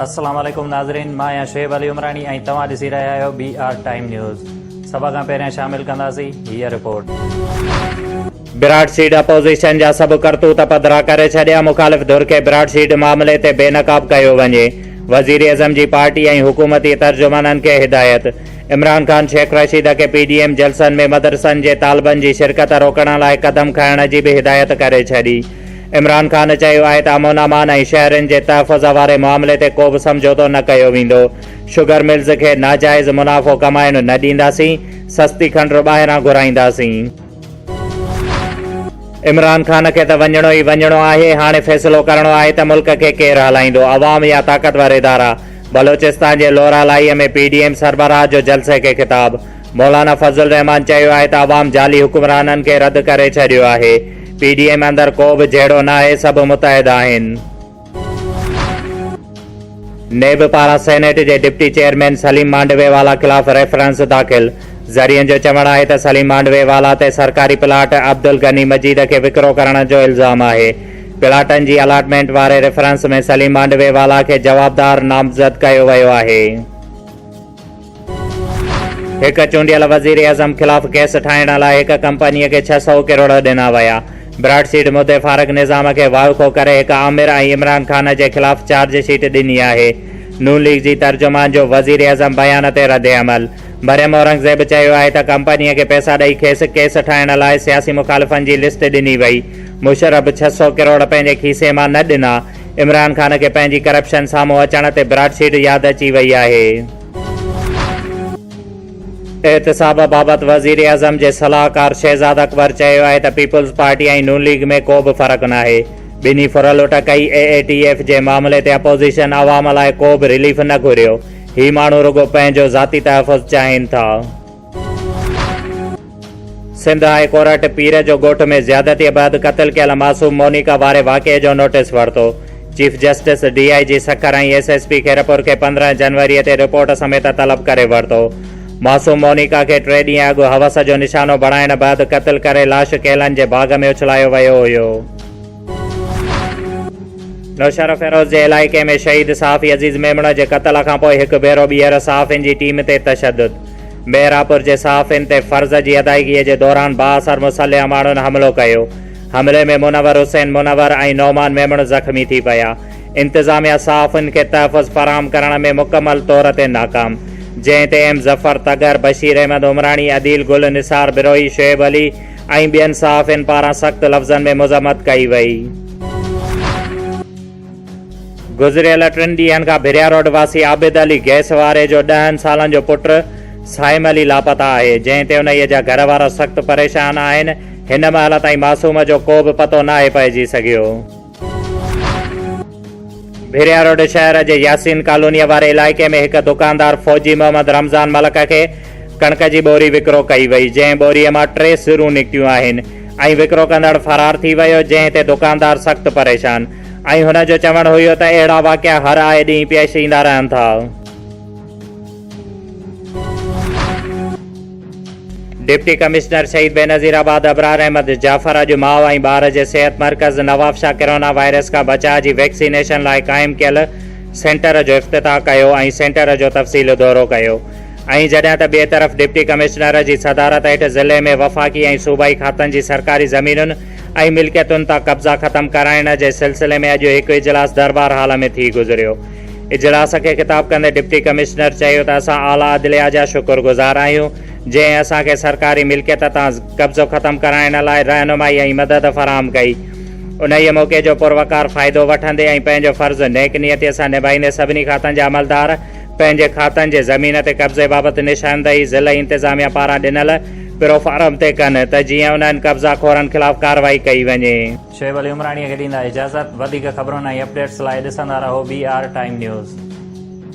السلام عليڪم ناظرين مان آهيان شعيب علي عمراڻي ۽ توهان ڏسي رهيا آهيو بي آر ٽائيم نيوز سڀ کان پهريان شامل ڪنداسين هيء رپورٽ براڊ سيڊ اپوزيشن جا سڀ ڪرتوت پڌرا ڪري ڇڏيا، مخالف ڌر کي براڊ سيڊ معاملي تي بي نقاب ڪيو وڃي، وزيراعظم جي پارٽي ۽ حڪومتي ترجمانن کي هدايت، عمران خان شيخ رشيد کي پي ڊي ايم جلسن ۾ مدرسن جي طالبن جي شرڪت روڪڻ لاء قدم کڻڻ جي به هدايت ڪري ڇڏي، عمران خان چيو آهي ته امن امان ۽ شهرين جي تحفظ واري معاملي تي ڪوبه سمجهوتو نه ڪيو ويندو، شگر ملز کي ناجائز منافعو ڪمائڻ نه ڏينداسين، سستي کنڊر ٻاهران گهرائينداسين. عمران خان کي ته وڃڻو ئي وڃڻو آهي، هاڻي فيصلو ڪرڻو آهي ته ملڪ کي ڪير هلائيندو، عوام يا طاقتور ادارا؟ بلوچستان جي لورالايء ۾ پي ڊي ايم سربراهه جو جلسي کي خطاب، مولانا فضل الرحمان چيو آهي ته عوام جعلي حڪمرانن کي رد ڪري ڇڏيو آهي، پي ڊي ايم اندر ڪو به جهيڙو ناهي، سڀ متحد آهن. نيب پاران سينيٽ جي deputy chairman Saleem Mandviwalla خلاف ريفرنس داخل، ذريعن جو چوڻ آهي ته سليم مانڊوي والا تي سرڪاري پلاٽ عبدالغني مجيد کي وڪرو ڪرڻ جو الزام آهي، پلاٽن جي الاٽمينٽ واري ريفرنس ۾ سليم مانڊوي والا کي جوابدار نامزد ڪيو ويو آهي. هڪ چونڊيل وزيراعظم خلاف ڪيس ٺاهڻ لاء هڪ ڪمپنيء کي ڇهه سؤ ڪروڙ ڏنا ويا، براڊ سيڊ مدي فاروق نظام کي وائکو ڪري هڪ آمر ۽ عمران خان جي خلاف چارج شيٽ ڏني آهي، نون ليگ جي ترجمان جو وزيراعظم بيان تي ردعمل، مريم اورنگزيب چيو آهي ته ڪمپنيء کي پئسا ڏئي کيس ڪيس ٺاهڻ لاء سياسي مخالفن جي لسٽ ڏني وئي، مشرف ڇهه سؤ ڪروڙ پنهنجي کيسي مان نه ڏنا، عمران خان کي پنهنجي ڪرپشن سامهون اچڻ تي براڊشيٽ ياد اچي وئي آهي. احتساب بابت وزيراعظم جي صلاحڪار شهزاد اڪبر چيو آهي ته پيپلز پارٽي ۽ نون ليگ ۾ ڪو به فرق ناهي، ٻنهي ڦرلٽ ڪئي، اي اي ٽي ايف جي معاملي تي اپوزيشن عوام لاء ڪو به رليف نه گهريو، هي ماڻهو رڳو پنهنجو ذاتي تحفظ چاهين ٿا. سنڌ هاء ڪورٽ پير جو ڳوٺ ۾ زيادتيء بعد قتل ڪيل معصوم مونيڪا واري واقعي جو نوٽيس ورتو، chief justice, D I G Sukkur ۽ S S P Khairpur کي پندرهن جنوري تي رپورٽ سميت طلب ڪري ورتو. معصوم مونيڪا کي ٽي ڏينهن اڳ حوس جو نشانو بڻائڻ بعد قتل ڪري لاش ڪيلن جي باغ ۾ اڇلايو ويو هيو. نوشهروفيروز جي علائقي ۾ شهيد صحافي عزيز ميمڻ جي قتل کانپوء هڪ ڀيرو ٻيهر صحافين جي ٽيم تي تشدد، مهراپور جي صحافين تي فرض جي ادائيگي جي دوران بااثر مسلح ماڻهن حملو ڪيو، حملي ۾ منور حسين منور ۽ نعمان ميمڻ زخمي ٿي پيا، انتظاميا صحافين کي تحفظ فراهم ڪرڻ ۾ مڪمل طور تي ناڪام، جنهن تي ايم ظفر تگر، بشير احمد عمراڻي، عديل گل، نثار بروهي، شعيب علي، ۽ ٻين صحافين پاران سخت لفظن ۾ مذمت ڪئي وئي. گذريل ٽن ڏينهن کان ڀريا روڊ واسي عابد علي گئس واري جو ڏهن سالن جو پٽ صائم علي لاپتا آهي، جنهن تي انهيء جا گهر وارا سخت پريشان آهن، هن مهل تائين معصوم جو ڪو به پتو ناهي پئجي سگهيو. ڀيريا روڊ شهر جي ياسين ڪالونيء واري علائقي ۾ هڪ دڪاندار فوجي محمد رمضان ملڪ کي ڪڻڪ جي ٻوري وڪرو ڪئي وئي، جنهن ٻوريء مان ٽي سرون نڪتيون آهن ۽ وڪرو ڪندڙ فرار ٿي ويو، جنهن تي دڪاندار سخت پريشان ۽ هن جو چوڻ هيو ته اهڙا واقعا هر آئي ڏينهن پيش ايندا رهن ٿا. ڊپٽي ڪمشنر شهيد بينظير آباد ابرار احمد جعفر اڄ ماء ۽ ٻار جي صحت مرڪز نوابشاهه ڪرونا وائرس کان بچاء جي ويڪسينيشن لاء قائم ڪيل سينٽر جو افتتاح ڪيو ۽ سينٽر جو تفصيلي دورو ڪيو ۽ جڏهن ته ٻئي طرف ڊپٽي ڪمشنر جي صدارت هيٺ ضلعي ۾ وفاقي ۽ صوبائي کاتن جي سرڪاري زمينن ۽ ملڪيتن تان قبضا ختم ڪرائڻ جي سلسلي ۾ اڄ هڪ اجلاس دربار هال ۾ ٿي گذريو اجلاس کي خطاب ڪندي ڊپٽي ڪمشنر چيو ته اسان اعليٰ عدليه جا شڪر گذار آهيون جنهن اسان کي سرڪاري ملڪيت تان قبضو ختم ڪرائڻ لاء رهنمائي ۽ مدد فراهم ڪئي انهيء موقعي جو پروقار فائدو وٺندي ۽ پنهنجو فرض نيڪ نيتي سان نڀائيندي سڀني کاتن جا عملدار پنهنجي کاتن جي زمين تي قبضي بابت نشاندهي ضلعي انتظاميه پاران ڏنل پروفارم تي ڪن ته جيئن انهن قبضا خورن خلاف ڪارروائي ڪئي وڃي. شعيب علي عمراڻيء کي ڏيندا اجازت، وڌيڪ خبرن ۽ اپڊيٽس لاء ڏسندا رهو بي آر ٽائيم نيوز.